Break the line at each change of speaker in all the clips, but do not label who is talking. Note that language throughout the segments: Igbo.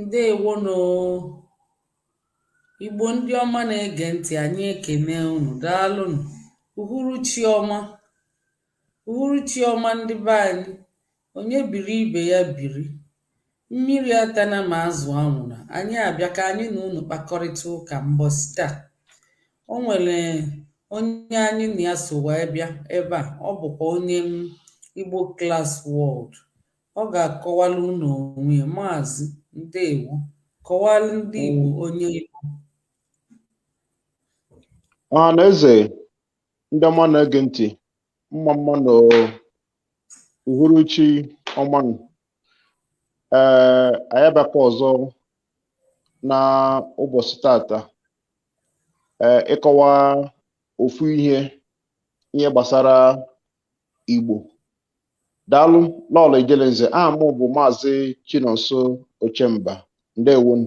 ǹdeèwo nụ̀ o ìgbò ndị ọma na-egè ntị̀ ànyị ekène unù daalụ nụ̀ ùhuru chi ọma ùhuru chi ọma ndị be anyị ònye bìri ibè ya bìri Mmiri atana ma azụ anwụna. Anyị abịa ka anyị na unu kpakọrịta ụka mbọsị taa. O nwere onye anyị na ya so wee bịa ebe a, ọ bụkwa onye m Igbo Class World. Ọ ga-akọwara unu onwe ya. Maazị, ndewo. Kọwara ndị Igbo onye ị
bụ. Ọhaneze, ndị ọma na-ege ntị, mma mma nụ uhuruchi ọma nụ. ee anyị abịakwa ọzọ na ụbọchị tata ee ịkọwa ofu ihe ihe gbasara igbo daalụ lọlọ ijelenze aha m bụ maazị chinonso ochemba ndewonụ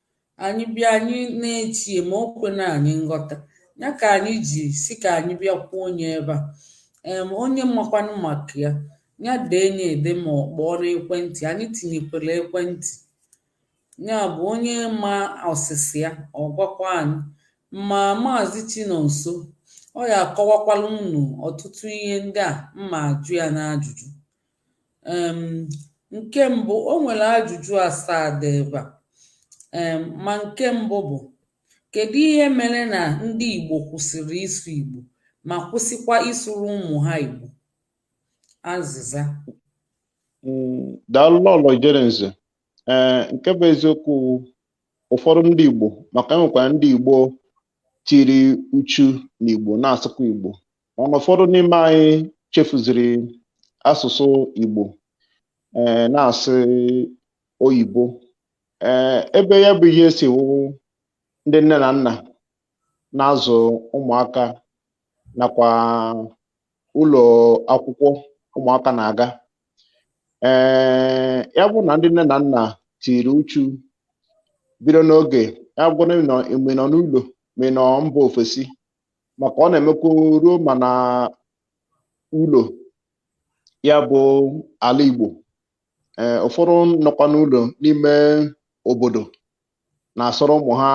Anyị bịa anyị na-eche ma o kwena anyị nghọta ya ka anyị ji sị ka anyị bịa kwuo onye ebe a um onye makwanụ maka ya ya dee nye ede ma ọ kpọọ n'ekwentị anyị tinyekwara ekwentị ya bụ onye ma ọsịsa ya ọ gwakwa anyị ma maazị Chinonso ọ ya-akọwakwara unu ọtụtụ ihe ndị a m ma-ajụ ya n'ajụjụ um Nke mbụ, o nwere ajụjụ asaa dị ebe a. um Ma nke mbụ bụ, Kedu ihe mere na ndị Igbo kwụsịrị ịsụ Igbo ma kwụsịkwa ịsụrụ ụmụ ha Igbo? Azịza.
Mm, daalụ Lọlọ Ijelenze. Ee, eh, nke bụ eziokwu ụfọdụ ndị Igbo maka e nwekwara ndị Igbo tiri uchu n'Igbo na-asụkwa Igbo mana ụfọdụ n'ime anyị chefuziri asụsụ Igbo ee eh, na-asụ oyibo ee eh, ebe ya bụ ihe si wụ ndị nne na nna na-azụ ụmụaka nakwa ụlọ akwụkwọ ụmụaka na-aga ee eh, ya bụ na ndị nne na nna tiri uchu bido n'oge ya bụ ma ị nọ n'ụlọ ma ị nọ mba ofesi maka ọ na-emekwa ruo ma na ụlọ ya bụ ala Igbo ee ụfọdụ nọkwa n'ụlọ n'ime obodo na-asụrụ ụmụ ha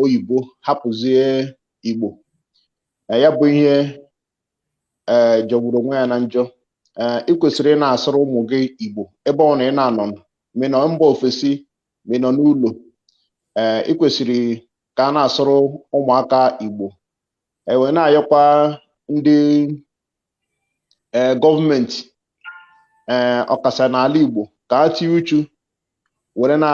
oyibo hapụzie Igbo ee ya bụ ihe ee jọgburu onwe ya na njọ ee i kwesịrị ị na-asụrụ ụmụ gị Igbo ebe ọbụna ị na-anọ ma ị nọ mba ofesi ma ị nọ n'ụlọ ee i kwesịrị ka a na-asụrụ ụmụaka Igbo e wee na-ayọkwa ndị eh, gọọmenti ee eh, ọkasa n'ala Igbo ka a tinye uchu were na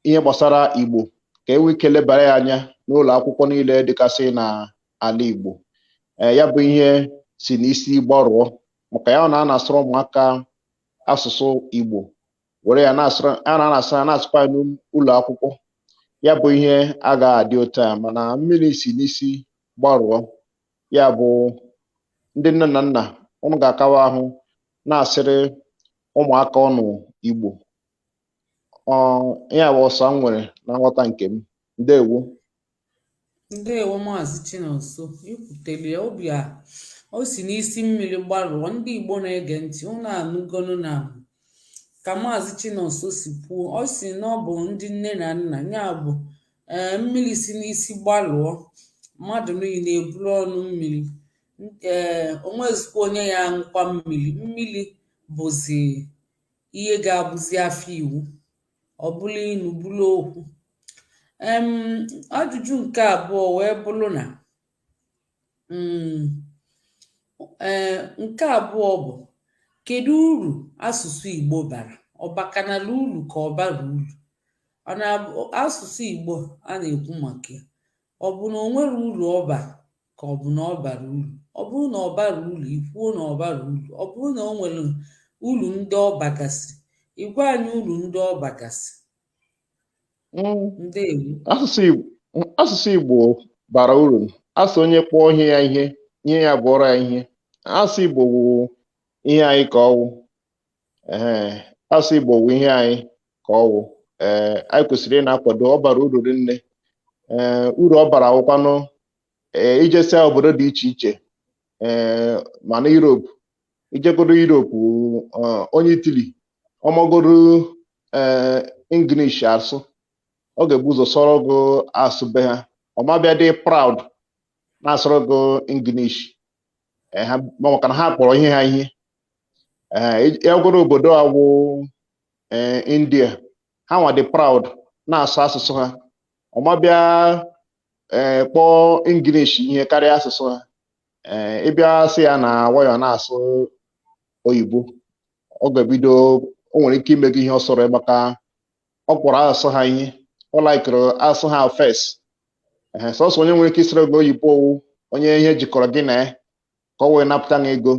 ihe gbasara Igbo ka e nwee ike lebara ya anya n'ụlọ akwụkwọ niile dịgasị n'ala Igbo eh, ya bụ ihe si n'isi gbarụọ maka ya na a na-asụrụ ụmụaka asụsụ Igbo were ya na-asụrụ ha na na-asụ ya na-asụkwa ya n'ụlọ akwụkwọ ya bụ ihe agaghị adị otu a mana mmiri si n'isi gbarụọ ya bụ ndị nne na nna unu ga-akawa ahụ na-asụrụ ụmụaka unu Igbo ọ ya bụ ọsa m nwere na nghọta nke m ndewo
Ndewo Maazị Chinonso, i kwutere ya ọ bụ ya o si n'isi mmiri gbarụọ ndị Igbo na-ege ntị unu anụgonu na ka Maazị Chinonso si kwuo ọ sị na ọ bụ ndị nne na nna ya bụ ee mmiri si n'isi gbarụọ mmadụ niile eburu ọnụ mmiri ee o nwezikwa onye ya-aṅụkwa mmiri mmiri bụzi ihe ga-abụzi afọ iwu ọ bụlụ ilu bụlụ okwu um ajụjụ nke abụọ wee bụrụ na um ee nke abụọ bụ kedu uru asụsụ Igbo bara ọ bakanala uru ka ọ bara uru ọ na-abụ asụsụ Igbo a na-ekwu maka ya ọ bụ na o nwere uru ọ bara ka ọ bụ na ọ bara uru ọ bụrụ na ọ bara uru i kwuo na ọ bara uru ọ bụrụ na o nwere uru ndị ọ bagasị ị gwa anyị uru ndị ọ bagasị
mm. ndewo asụsụ Igbo bara uru a sị onye kpọọ ihe ya ihe ihe ya abụọrọ ya ihe asụ Igbo wụ ihe anyị ka ọ wụ ee asụ Igbo wụ ihe anyị ka ọ wụ ee anyị kwesịrị ịna-akwado ọ bara uru rinne ee uru ọ bara awụkwanụ ee i jesia obodo dị iche iche ee ma na Europe i jegodo Europe eh, onye Italy ọ magodo ee English asụ ọ ga-ebu ụzọ sụọrọ gị asụ be ha ọ ma bịa dị proud na-asụrụ gị English ee ha ma maka na ha kpọrọ ihe ha ihe ee ị gagodo obodo a wụ ee India ha nwa dị proud na-asụ asụsụ ha ọ ma bịa ee eh, kpọọ English ihe karịa asụsụ ha ee eh, ị bịa sị ya na why ọ na-asụ oyibo ọ ga-ebido o nwere ike ime gị ihe ọ sọrọ maka ọ kpọrọ asụsụ ha ihe ọ laikiri asụsụ ha first ee eh, sọsọ onye nwere ike ịsụrụ gị oyibo ọ wụ onye ihe jikọrọ gị na ya ka ọ wee napụta gị ego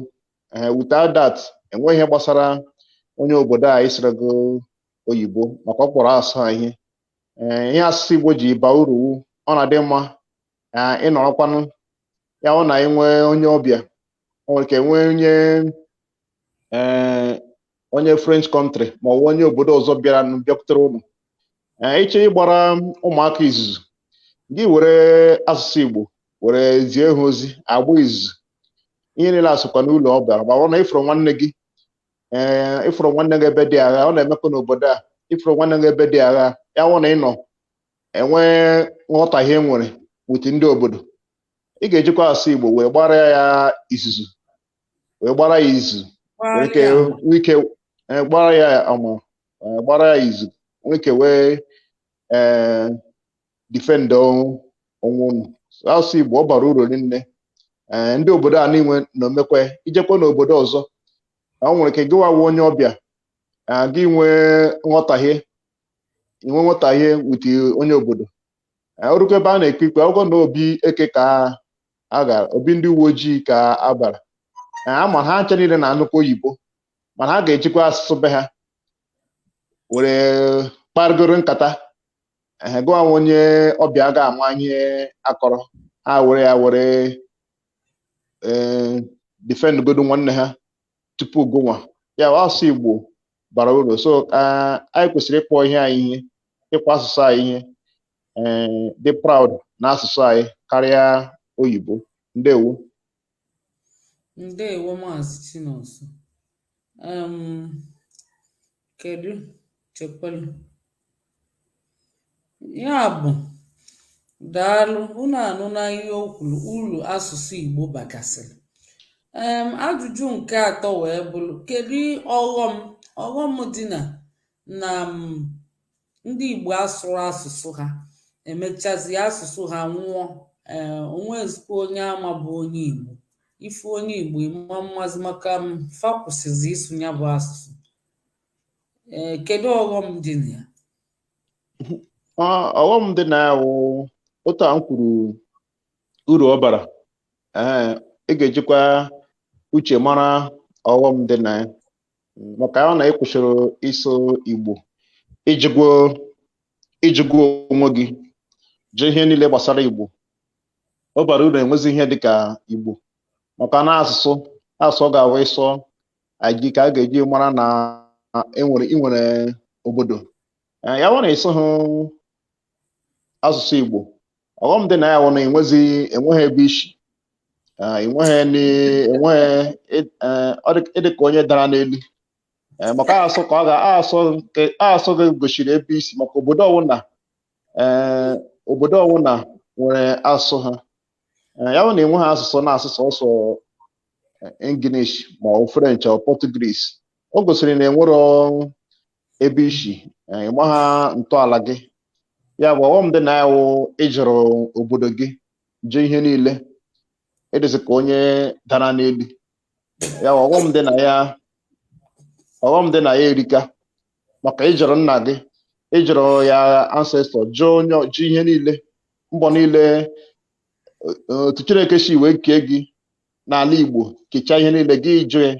ee without that e nweghị ihe gbasara onye obodo a ịsụrụ gị oyibo maka ọ kpọrọ asụsụ ha ihe ee ihe asụsụ Igbo ji baa uru wụ ọ na-adị mma na ịnọrọkwanụ ya ọ na enwee onye ọbịa o nwere ike nwee onye ee onye French country ma ọ bụ onye obodo ọzọ bịara nụ bịakwutere ụlọ ee ị chọọ ịgbara ụmụaka izuzu gị ewere asụsụ Igbo were zie ha ozi agba izuzu ihe niile asụkwa n'ụlọ ọ bịara ma ọ bụrụ na ị fụrụ nwanne gị ee ị fụrụ nwanne gị ebe dị agha ọ na-emekwa n'obodo a ị fụrụ nwanne gị ebe dị agha ya wụ na ị nọ enwee nghọtahie e nwere with ndị obodo ị ga-ejikwa asụ Igbo wee gbara ya izuzu wee gbara ya izu nwee ike e, gbara ya ama e, gbara ya izu nwee ike wee defend onwe unu asụsụ igbo ọ bara uru rinne ee ndị obodo a niile na-emekwe i jekwa n'obodo ọzọ o nwere ike gịwa wụ onye ọbịa ee, gị nwee nghọtahie inwe nghọtahie with onye obodo Ee, o rukwa ebe a na-ekpe ikpe ọ wụgo na obi eke ka a gara obi ndị uwe ojii ka a bara Ee, a ma ha ncha niile na-anụkwa oyibo mana ha ga-ejikwa asụsụ be ha were kparịgoro nkata ehe gụnwa wụ onye ọbịa aga ama ihe a kọrọ ha were ya were ee defend godu nwanne ha tupu gụnwa ya bụ asụsụ Igbo bara uru so ah, anyị kwesịrị ịkpọ ihe anyị ihe ịkpọ asụsụ anyị ihe ee dị proud na asụsụ anyị karịa oyibo ndewo
Ndewo Maazị Chinonso. Um, kedu chekwelu ya bụ daalụ unu anụna ihe o kwuru uru asụsụ Igbo bagasịrị um, ajụjụ nke atọ wee bụrụ kedu ọghọm ọghọm dị na na um, ndị Igbo asụrọ asụsụ ha emechazi asụsụ ha nwụọ ee o nwezikwa onye a ma bụ onye Igbo ị fụ onye Igbo ị ma amazi maka m fa kwụsịzi ịsụ ya bụ asụsụ ee kedu ọghọm dị na
ya ọghọm dị na ya wụ otu a m kwuru uru ọ bara ee ị ga-ejikwa uche mara ọghọm dị na ya maka ọ na ị kwụsịrị ịsụ igbo ijigwo ijigwo onwe gị jee ihe niile gbasara igbo ọ bara uru enwezi ihe dịka igbo maka na asụsụ asụsụ ọ ga-awụ ị sụọ ya ka a ga-eji mara na enwere i nwere obodo ya wụ na ị sụhụ asụsụ Igbo ọghọm dị na ya wụ na enwezi enweghị ebe i si Ah, enweghị ni- enweghị ị- eh, ọ dị ịdị ka onye dara n'elu Eh, maka asụ ka ọ ga asụ nke asụ gị gosiri ebe i si maka obodo ọwụna eh, obodo ọwụna nwere asụsụ ha Eh, ya bụ na i nweghị asụsụ na-asụ sọsọ English ma ọ French ọ Portuguese o gosiri na enwero ebe i si ị ma ha ntọala gị ya bụ ọghọm dị na ya wụ ịjụrụ obodo gị jụ ihe niile ịdịzị ka onye dara n'elu ya wụ ọghọm dị na ya ọghọm dị na ya erika maka ịjụrụ nna gị ịjụrụ your ancestor jụ onye jụ ihe niile mbọ niile otu chineke si wee kee gị n'ala igbo kechaa ihe niile gị jụ ya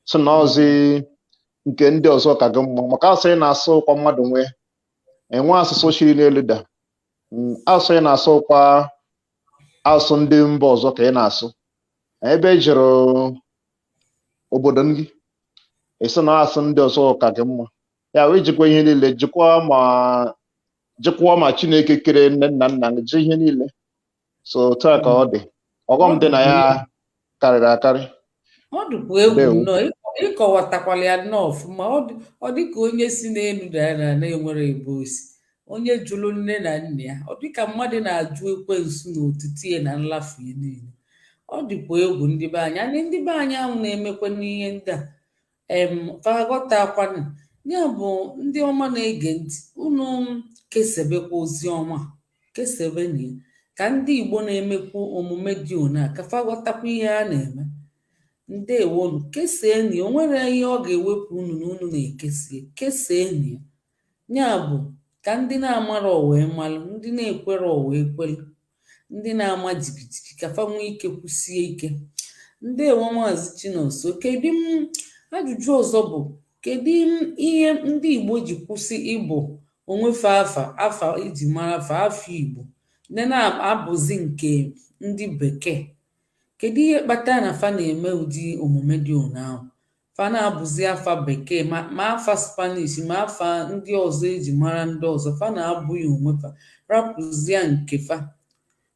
sị na ọzi nke ndị ọzọ ka gị mma maka asụ ị na-asụ wụkwa mmadụ nwee enwe asụsụ shiri n'elu da Mm, asụsụ ị na-asụ wụkwa asụsụ ndị mba ọzọ ka ị na-asụ ebe ị jụrụ obodo gị ị sị na asụ ndị ọzọ ka gị mma ya wee jụkwa ihe niile jụkwa ma jụkwa ma chineke kere nne nna nna gị jụ ihe niile so otu a ka ọ dị ọghọm dị na ya karịrị akarị ọ
dịkwa egwu Ndewo. nnọọ ịkọ- ịkọwatakwala ya nnọọ ọfụma ọ dị- ọ dị ka onye si n'elu dara na na-enwere ebe o si onye jụrụ nne na nna ya ọ dị ka mmadụ na-ajụ ekwensu na otito ya na nlafu ya niile ọ dịkwa egwu ndị be anyị anyị ndị be anyị ahụ na-emekwa n'ihe ndị a em fa aghọtakwanụ ya bụ ndị ọma na-ege ntị unu kesebekwa ozi ọma kesebenụ ya ka ndị igbo na-emekwu omume dị ona ka fa ghọtakwa ihe a na-eme ndewonu keseeni o nwere ihe ọ ga-ewepụ unu na unu na-ekesie keseeni ya Ya bụ, ka ndị na-amarọ wee malụ, ndị na-ekwerọ wee kwelụ, ndị na-ama jigijigi ka fa nwee ike kwusie ike. Ndewo Maazị Chinonso. Kedu m ajụjụ ọzọ bụ kedu m ihe ndị Igbo ji kwụsị ịbụ onwe fa afa afa eji mara afa afọ Igbo ndị na-abụzi nke ndị bekee kedu ihe kpatara na fa na-eme ụdị omume dị ona ahụ fa na-abụzi afa bekee ma ma afa spanish ma afa ndị ọzọ eji mara ndị ọzọ fa na-abụ ya onwe fa rapụzia nke fa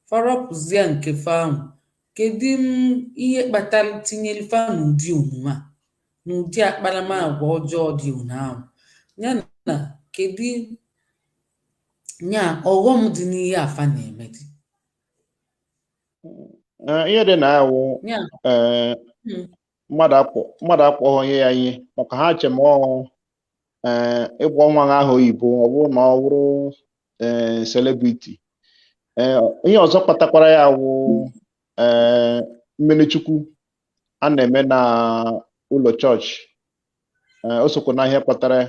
fa rapụzia nke fa ahụ kedu m ihe kpatara tinyere fa n'ụdị omume a n'ụdị akparamagwa ọjọọ dị ona ahụ ya na kedu nya ọghọm dị n'ihe a fa na-eme dị
Eh, ihe dị na ya wụ eh, mm, mmadụ akpọ mmadụ akpọghọ ihe ya ihe maka ha che ma ọ wụ ee ịkpọ nwa ha aha oyibo ọ bụrụ na ọ bụrụ ee celebrity ee ihe ọzọ kpatakwara ya wụ ee mmiri chukwu a na-eme na ụlọ chọọchị ee o sokwa na ihe kpatara ya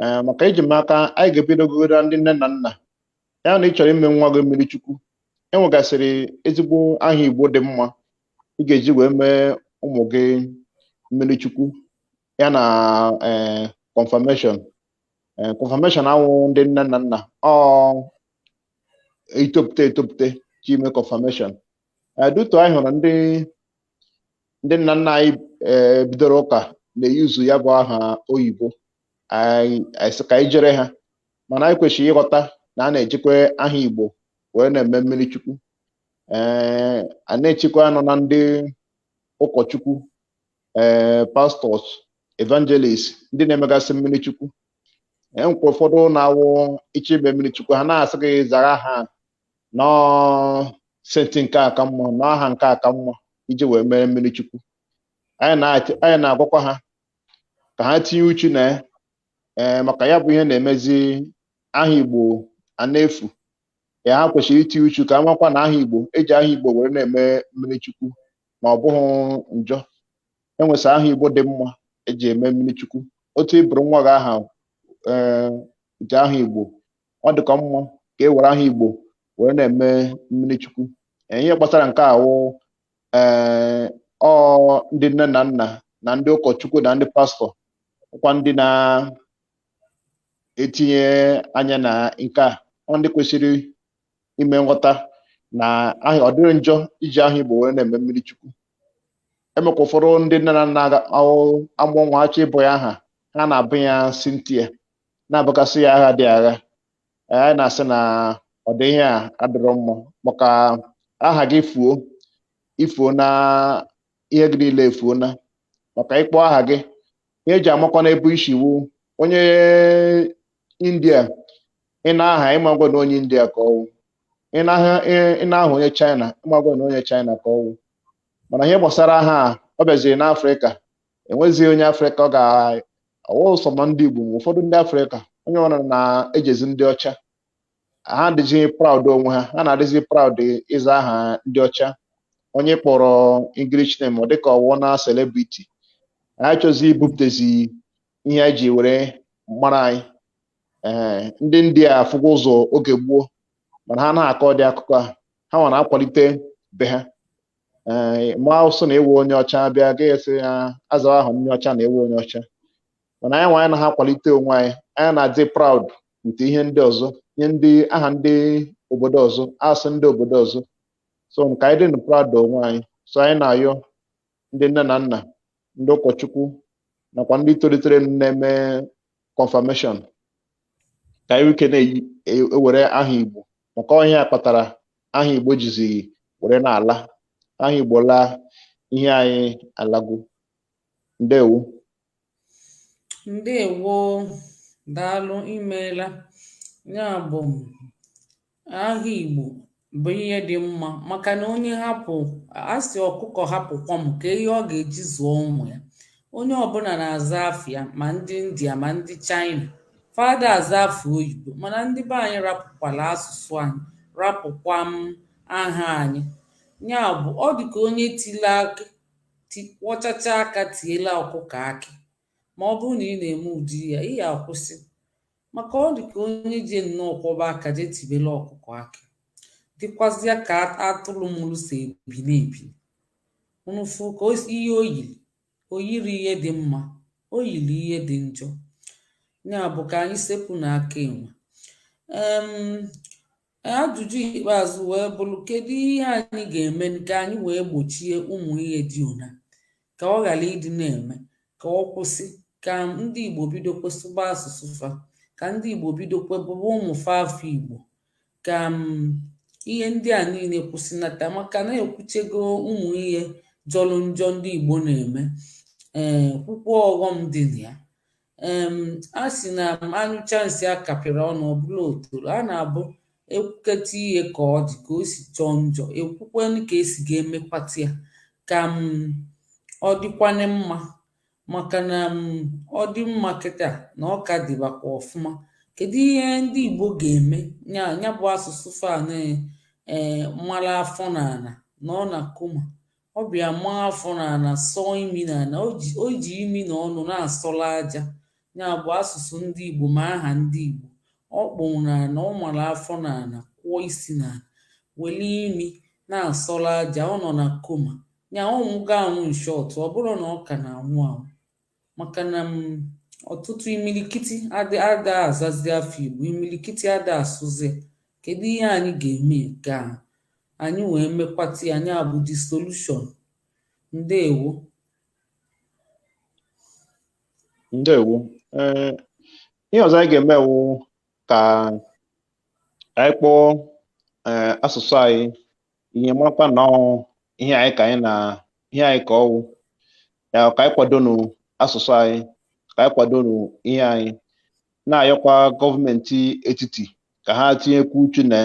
ee maka eji m aka anyị ga-ebido gwawa ndị nne na nna ya na ị chọrọ ime nwa gị mmiri chukwu e nwegasịrị ezigbo aha igbo dị mma ị ga-eji wee mee ụmụ gị mmiri chukwu ya na ee confirmation ee confirmation awụ ndị nne na nna ọ i topụta etopụta je ime confirmation ee due to anyị hụrụ ndị ndị nna nna anyị eh, bidoro ụka na-eyuzu ya bụ aha oyibo anyị anyị sị ka anyị jere ha mana anyị kwesịrị ịghọta na a na-ejikwa aha igbo wee na-eme mmiri chukwu ee a na-echekwanụ na ndị ụkọchukwu ee pastors evangelist ndị na-emegasị mmiri chukwu e nwekwa ụfọdụ na-awụ i je ime mmiri chukwu ha na-asị gị zara aha na ọ saint nke a ka mma na ọ aha nke a ka mma iji wee mere mmiri chukwu anyị na-ati- anyị na-agwakwa ha ka ha tinye uchu na ya ee maka ya bụ ihe na-emezi aha igbo a na-efu ya ha kwesịrị itinye uchu ka a makwa na aha igbo e ji aha igbo were na-eme mmiri chukwu ma ọ bụghị njọ e nwesị aha igbo dị mma e ji eme mmiri chukwu otu ị bụrụ nwa gị aha ee ji aha igbo ọ dịkọ mma ka e were aha Igbo were na-eme mmiri chukwu ihe gbasara nke a wụ ee ọ ndị nne na nna na ndị ụkọchukwu na ndị pastọ ọkwa ndị na-etinye anya na nke a ọ ndị kwesịrị ime nghọta na ọ dịrọ njọ iji aha Igbo were na-eme mmiri chukwu e nwekwa ụfọdụ ndị nne na nna amụọ nwa achọọ ịbụ ya aha ha na-abụ ya Cynthia na-abụkasị ya aha dị agha eh, anyị na-asị na ọ dị ihe a adịrọ mma maka aha gị fuo i fuona ihe gị niile efuona maka ịkpọ aha gị ihe e ji amakwa n'ebe i si wụ onye india ị nụ aha ị makwa na onye india ka ọ wụ ị nụ aha- ị- ị nụ aha onye china ị makwa na onye china ka ọ wụ mana ihe gbasara aha a, ọ bịaziri n'afrịka e nwezighị onye afrịka ọ ga-awụrụ sọ ma ndị igbo ma ụfọdụ ndị afrịka onye ọbụla na-ejezi ndị ọcha ha adịghị proud onwe ha ha na-adịzi proud ịza aha ndị ọcha onye kpọrọ english name ọ dịka ọ wụọna celebrity ha achọzi ibupụtezi ihe anyị ji were mara anyị ee ndị india afụgo ụzọ oge gboo mana ha na-akọ dị akụkọ a ha nwa na-akwalite be ha ee ma awụsụ na ị wụ onye ọcha bịa gị sị ya azawa aha onye ọcha na ị wụ onye ọcha mana anyị nwa anyị anaghị akwalite onwe anyị anyị na-adị proud nke ihe ndị ọzọ ihe ndị aha ndị obodo ọzọ asụ ndị obodo ọzọ so ka anyị dị proud onwe anyị so anyị na-ayọ ndị nne na nna ndị ụkọchukwu nakwa ndị tolitere na-eme confirmation ka e nwee ike na-ewere e, aha Igbo maka ihe a kpatara aha Igbo jizi were na-ala aha Igbo laa ihe anyị alago
ndewo ndewo daalụ imeela ya bụ aha Igbo bụ ihe dị mma maka na onye hapụ a sị ọkụkọ hapụ kwọm kee ihe ọ ga-eji zụọ ụmụ ya onye ọbụla na-aza afa ya ma ndị India ma ndị China fa ada aza afa oyibo mana ndị be anyị rapụkwala asụsụ anyị rapụkwa m aha anyị ya bụ ọ dị ka onye tile akị kwọchacha aka tiela ọkụkọ akị ma ọ bụrụ na ị na-eme ụdị ihe a ị ya akwụsị Maka ọ dị ka onye ji nnọọ kwọba aka jee tibere ọkụkọ akị, dịkwazịa ka atụrụ mụrụ si ebili ebili. Unu fụ kee ihe o yiri, o yiri ihe dị mma, o yiri ihe dị njọ. Ya bụ ka anyị sepụnụ aka enwe. Um Ajụjụ ikpeazụ wee bụrụ kedu ihe anyị ga-eme ka anyị wee gbochie ụmụ ihe dị ona ka ọ ghara ịdị na-eme ka ọ kwụsị ka ndị Igbo bidokwe sụba asụsụ fa ka ndị Igbo bidokwe bụba ụmụ fa afa Igbo ka ihe ndị a niile kwụsịnata maka na e kwuchego ụmụ ihe jọrọ njọ ndị Igbo na-eme ee eh, kwukwo ọghọm dị na ya um A sị na um a nyụchaa nsị a kapịrị ọnụ, ọ bụrụ otoro. A na-abụ e kwuketa ihe ka ọ dị, ka o si jọọ njọ, e kwukwenụ ka e si ga-emekwata ya ka um ọ dịkwanụ mma. Maka na um ọ dị mma kịta, na ọ ka dịbakwa ọfụma. Kedụ ihe ndị Igbo ga-eme ya ya bụ asụsụ fa na um mara afọ n'ala nọọ na coma ọ bịa maa afọ n'ala sọọ imi n'ala o ji o ji imi na ọnụ na-asọla aja ya bụ asụsụ ndị Igbo ma aha ndị Igbo o kpu n'ala ọ mara afọ n'ala kụọ isi n'ala weli imi na-asọla aja ọ nọ na coma ya ọ nwụgo anwụ in short ọ bụrụ na ọ ka na-anwụ anwụ maka na um ọtụtụ imilikiti ada ada azazi afa igbo imilikiti ada asụzi ya kedu ihe anyị ga-eme ka anyị wee mekwata ya nya bụ the solution
ndewo ndewo ee ihe ọzọ anyị ga-eme wụ ka anyị kpọọ ee asụsụ anyị ihe makwa na ihe anyị ka anyị na ihe anyị ka ọ wụ ya ka anyị kwadonu asụsụ anyị ka anyị kwadonu ihe anyị na-ayọkwa gọọmenti etiti ka ha tinyekwu uchu na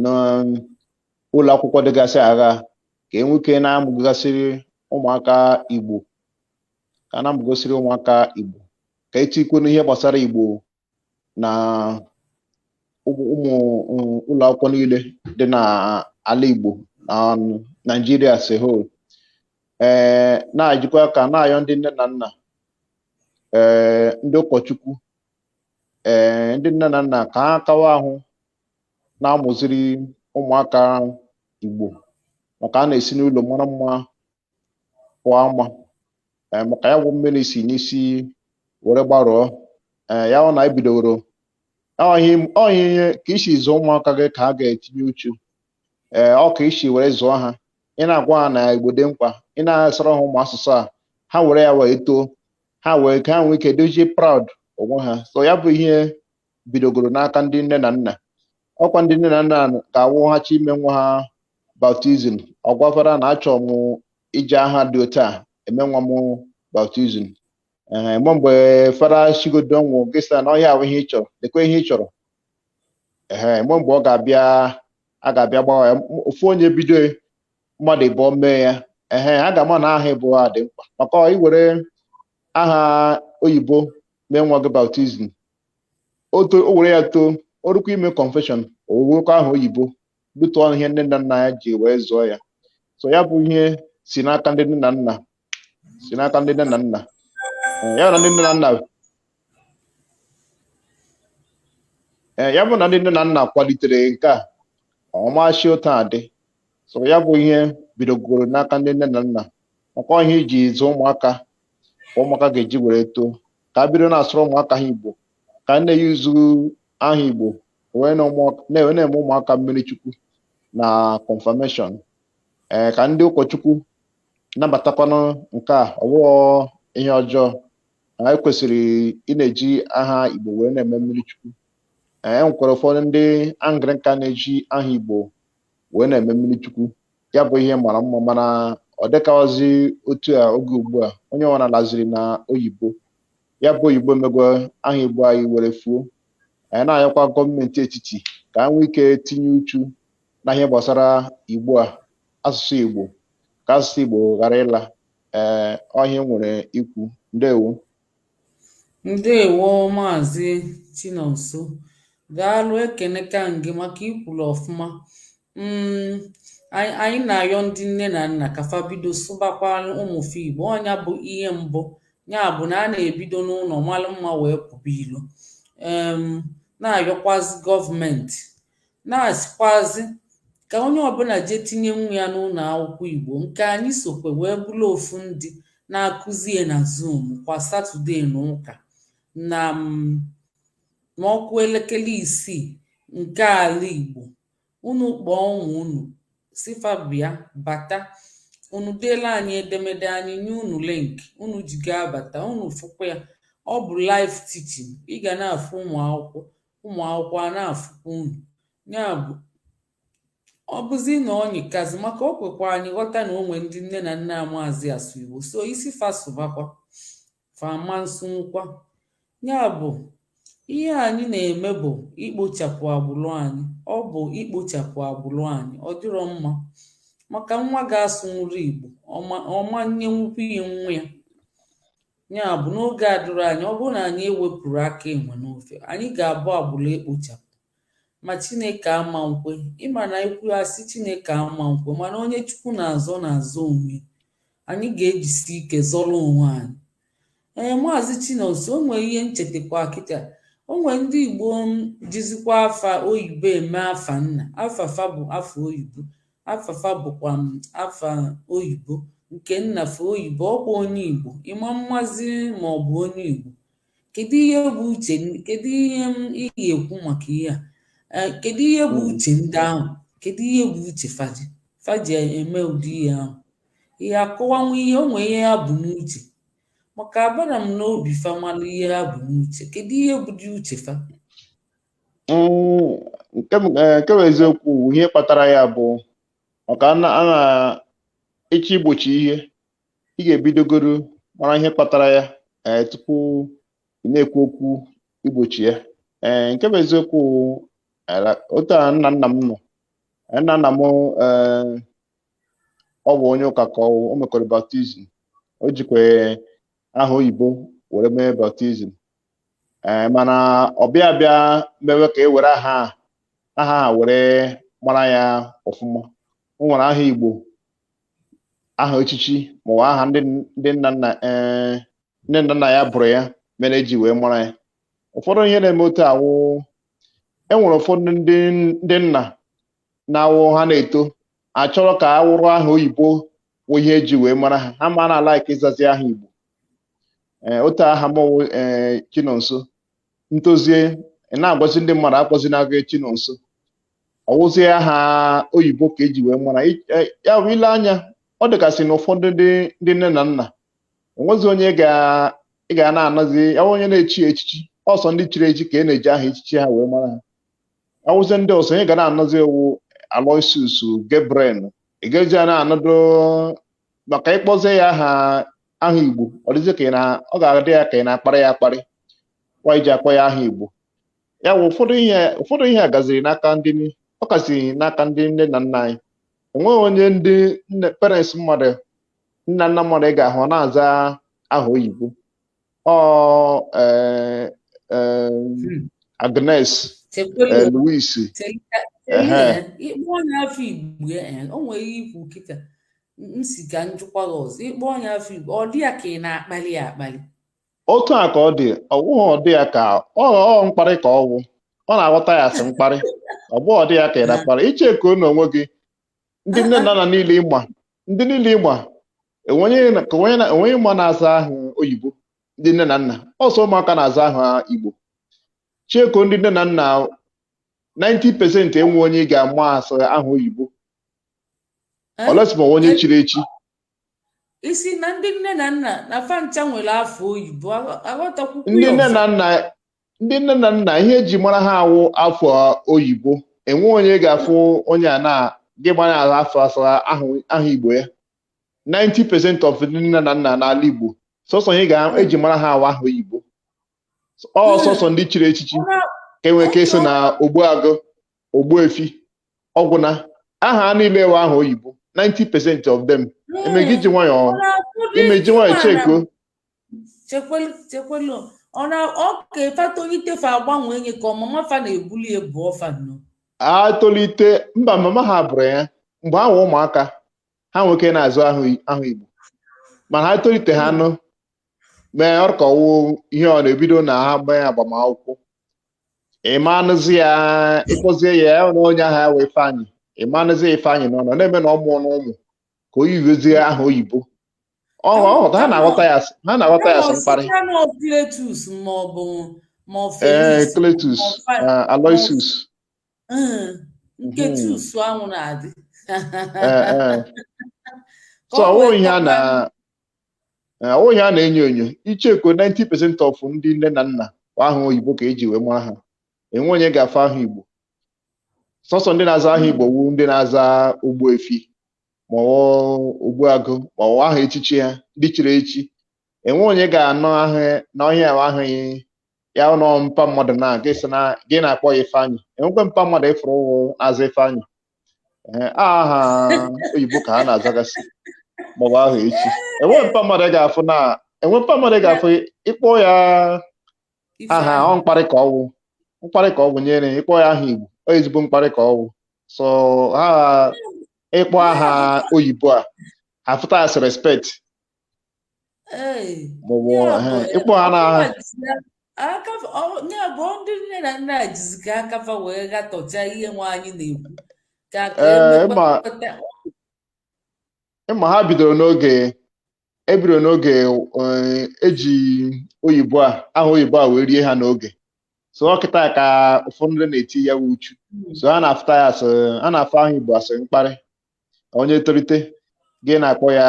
n'ụlọ akwụkwọ dịgasị agha ka e nwee ike na-amụgasịrị ụmụaka Igbo ka a na-amụgasịrị ụmụaka Igbo ka e tikwu n'ihe gbasara Igbo na ụmụ ụmụ mm, ụlọ akwụkwọ niile dị n'ala Igbo na Naịjirịa as a whole ee na-ejikwa aka na-ayọ ndị nne na nna ee ndị ụkọchukwu ee ndị nne na nna ka ha kawa ahụ na-amụziri ụmụaka Igbo maka a na-esi n'ụlọ mara mma pụọ ama ee maka ya wụ mmiri si n'isi were gbarụọ ee ya wụ na e bidoworo ọ ihe ka i si zụọ ụmụaka gị ka ha ga-etinye uchu ee ọ ka i si were zụọ ha ị na-agwa ha na igbo dị mkpa ị na-asụrụ ha ụmụ asụsụ a ha were ya wee too ha wee ka ha nwee ike dịzie proud onwe ha so ya bụ ihe bidogoro n'aka ndị nne na nna ọ kwa ndị nne na nna ga-awụ ha chọọ ime nwa ha baptizim ọ gwa fada na achọrọ m iji aha dị otu a eme nwa m baptizim ee mgbe mgbe fada sịgodu ọ wụghị ị sị na ọ ihe a wụ ihe ị chọrọ lekwa ihe ị chọrọ ee mgbe mgbe ọ ga-abịa a ga-abịa gbawa ya M- ofu onye bido mmadụ ịbụọ mee ya ehe a ga-ama na aha Igbo a dị mkpa maka i were aha oyibo mee nwa gị baptizim o to- o were ya too o rukwa ime confession ọ wụrụkwa aha oyibo due to ihe nne na nna ya ji wee zụọ ya so ya bụ ihe si n'aka ndị nne na nna si n'aka ndị nne na nna Eh, ya na ndị nne na nna eh, ya bụ na ndị nne na nna kwalitere nke a ọ machi otu a adị so ya bụ ihe bidogoro n'aka ndị nne na nna ọ kwa ihe i ji zụọ ụmụaka ka ụmụaka ga-eji were too ka a bido na-asụrụ ụmụaka ha igbo ka a na-eyuzu aha igbo wee na-eme ụmụaka mmiri chukwu na confirmation ee ka ndị ụkọchukwu nabatakwanụ nke a ọ bụrọ ihe ọjọọ anyị kwesịrị ị na-eji aha igbo wee na-eme mmiri chukwu e nwekwara ụfọdụ ndị anglikan na-eji aha igbo wee na-eme mmiri chukwu ya bụ ihe mara mma mana ọ dịkwazi otu a oge ugbu a onye ọwụla laziri na oyibo ya bụ oyibo emego aha igbo anyị were fuo anyị na-ayọkwa gọọmenti etiti ka ha nwee ike tinye uchu na ihe gbasara igbo a asụsụ igbo ka asụsụ igbo ghara ịla ee ọ ihe m nwere ikwu ndewo
Ndewo maazị Chinonso. Daalụ ekeneka m gị maka i kwulu ọfụma. Mm, anyị anyị na-ayọ ndị nne na nna ka fa bido sụbakwara ụmụ fa Igbo. Ọ nya bụ ihe mbụ. Ya bụ na a na-ebido n'ụlọ mara mma wee pụba ilo. Em, na-ayọkwazị gọọmenti na-asịkwazị ka onye ọbụla jee tinye nwa ya n'ụlọ akwụkwọ Igbo nke anyị sokwa wee bụrụ ofu ndị na-akụzi ya na Zoom kwa Satọde na ụka na mm, ma ọ kụọ elekere isii nke ala Igbo unu kpọọ ụmụ unu sị fa bịa bata unu deela anyị edemede anyị nye unu link unu ji ga-abata unu fụkwa ya ọ bụ live teaching ị ga na-afụ ụmụ akwụkwọ ụmụ akwụkwọ a na-afụkwa unu ya bụ ọ bụzi na ọ nyịkazi maka o kwekwa anyị ghọta na o nwe ndị nne na nna amaazị asụ igbo sọ ị sị fa sụbakwa fa ama nsụnwukwa ya bụ ihe anyị na-eme bụ ikpochapụ agbụrụ anyị ọ bụ ikpochapụ agbụrụ anyị ọ dịrọ mma maka nwa gị asụnwurọ igbo ọ ma nyenwukwu ihe nwa ya Ya bụ, n'oge adịrọ anya, ọ bụrụ na anyị ewepụrọ aka enwe n'ofe, anyị ga-abụ agbụrụ ekpochapụ. Ma Chineke ama nkwe, ị ma na e kwuo a sị Chineke ama nkwe, mana onye Chukwu na-azọ na-azọ onwe ya anyị ga-ejisi ike zọrọ onwe anyị. Ee, Maazị Chinonso, o nwere ihe m chetakwa kịta o nwere ndị Igbo jizikwa afa oyibo eme afa nna afa fa bụ afa oyibo afa fa bụkwa m afa oyibo nke nna fa oyibo ọ bụ onye igbo ị ma mmazi ma ọ bụ onye igbo kedu ihe bụ uche kedu ihe ị ya-ekwu maka ihe a kedu ihe bụ hmm. uche ndị ahụ kedu ihe bụ uche fa ji fa ji eme ụdị ihe ahụ ị ya-akọwanwu ihe o nwe ihe ha bu n'uche maka abarọ m n'obi fa mara ihe ha bu n'uche kedu ihe bụdị uche fa
Mm, nke m- eh, nke bụ eziokwu bụ ihe kpatara ya bụ maka a na- a na ị chọọ igbochi ihe ị ga-ebidogoro mara ihe kpatara ya eh, tupu ị na-ekwu okwu igbochi ya Eh, nke bụ eziokwu bụ, eh, la- otu a nna nna m nọ Eh, nna nna m eh, ọ bụ onye ụka ka ọ o mekwara baptizim o jikwa aha oyibo were mee baptizim ee mana ọ bịa bịa mewe ka e were aha aha ha were mara ya ọfụma o nwere aha igbo aha echichi maọbụ aha ndị nna nna ee ndị nna nna ya bụrụ ya mere e ji wee mara ya ụfọdụ ihe na-eme otu a wụ e nwere ụfọdụ ndị ndị nna na-awụ ha na-eto ha chọrọ ka ọ wụrụ aha oyibo wụ ihe eji wee mara ha ha ma na-ala ike ịzazi aha igbo ee otu aha m wụ ee chinonso m tozie ị na-agwazi ndị mmadụ akpọzina gị chinonso ọ wụzie aha oyibo ka eji wee mara I- eh, ya bụ ile anya ọ dịgasị na ụfọdụ ndị ndị nne na nna enwezi onye ị ga- ị ga na-anụzi ya bụ onye na-echi echichi ọ sọ ndị chiri echi ka e na-eji aha echichi ha wee mara ha ọ wụzie ndị ọzọ onye ga na-anụzi awụ Aloysius Gabriel ị ga-eji ya na-anọdụ maka ị kpọzie ya aha aha Igbo ọ dịzi ka ị na ọ ga-adị ya ka ị na-akparị ya akparị kwa iji akpọ ya aha Igbo ya bụ ụfọdụ ihe ụfọdụ ihe a gaziri n'aka ndị ọ kasị n'aka ndị nne na nna anyị enweghị onye ndị parents mmadụ nne na nna mmadụ ị ga-ahụ ọ na-aza aha oyibo ọ eh, eh, Hmm. Agnes chekwelu. eh, Louis Telika. Ehe. Ee,
ị kpọọ onye afa Igbo ee, o nwere ihe i kwu kịta m sị ka m jụkwa gị ọzọ ị kpọọ onye afa Igbo ọ dị ya ka ị na-akpali ya akpali otu a
ka ọ dị ọ bụghị ọ dị ya ka ọ ọ mkparị ka ọ wụ ọ na-aghọta ya as mkparị ọ bụghị ọ dị ya ka ị na-akparị i checkuo n'onwe gị ndị nne na nna niile ị ma ndị niile ị ma enweghị ma na-aza aha oyibo ndị nne na nna ọ sọ ụmụaka na-aza aha igbo checkuo ndị nne na nna 90% enwe onye ị ga-ama asị aha oyibo eh? unless ma onye eh? chiri echi ị
sị na ndị nne na nna na fa ncha
nwere afa oyibo aghọtakwukwu ndị nne na nna ndị nne na nna ihe eji mara ha awụ afa oyibo enwe onye ga-afụ onye a na gị gbara ala afọ azara aha igbo ya 90% of ndị nne na nna n'ala Igbo sọsọ ihe a ga-eji mara ha awụ aha oyibo ọ hmm. sọsọ ndị chiri echichi ka enwee ike ịsị na Ogbuagụ Ogbuefi ọ gwụna aha niile awụ aha oyibo 90% of them hmm. emeghị iji nwayọọ imeji nwayọọ checkuo
chekwelu ọ na ọ ka fa tolite fa agbanwe enye ka ọmụma fa na-ebuli ebu ọ fa nnọọ atolite
mba mama ha bụrụ ya mgbe ha wụ ụmụaka ha nwee ike na-aza aha aha igbo mana ha tolite ha nụ mee ọ ka ọ wụ ihe ọ na-ebido na ha gbanye agbamakwụkwọ ị ma anụzi ya ị kpọzie ya ya na onye aha ya wụ ifeanyị ị ma anụzi ya ifeanyị nọ nọ na-eme na ọ mụọ na ụmụ ka o yiwezie aha oyibo ọ ọ hụta ha na-aghọta ya as- ha na-aghọta ya as mkparị Cletus ma ọ bụ ma ọ ee Felix Cletus ma ọ Fa- eh, Aloysius
nkechi hmm. usu anwụ
na-adị so ọwụghị ihe a na ọwụghị ihe a na-enyo enyo icheko 90% of ndị nne na nna aha oyibo ka eji wee mara ha enwe onye ga-afụ aha igbo sọsọ ndị na-aza aha igbo wụ ndị na-aza ogbuefi maọbụ ogbuagụ maọbụ aha echichi ha ndị chiri echi enwe onye ga-anọ ahụ n'ọhịa ahụ ahụghị ya ụlọ mpa mmadụ na gị sị na gị na-akpọ ya ifeanyị enwekwe mpa mmadụ ịfụrụ na-aza ifeanyị ee aha oyibo ka ha na-azagasị maọbụ aha echi enwe mpa mmadụ ị ga-afụ na enwe mpa mmadụ ị ga-afụ ịkpọ ya aha ọ mkparị ka ọwụ mkparị ka ọwụ nyere ya ịkpọ ya aha igbo ọ ezigbo mkparị ka ọwụ so ha ịkpọ aha oyibo ha afụta as respect maọbụ ịkpọ ha n'aha
ya bụ ndị nne na nna jizi ka aka fa wee gatọcha ihe nwa anyị na-ekwu ka
ịma ha bidoro n'oge ebidoro n'oge eji oyibo a aha oyibo a wee rie ha n'oge so ọ kịta ka ụfọdụ ndị na-eti ya uchu so ha na-afụta ya as ha na-afụ aha igbo as mkparị onye tolite gị na-akpọ ya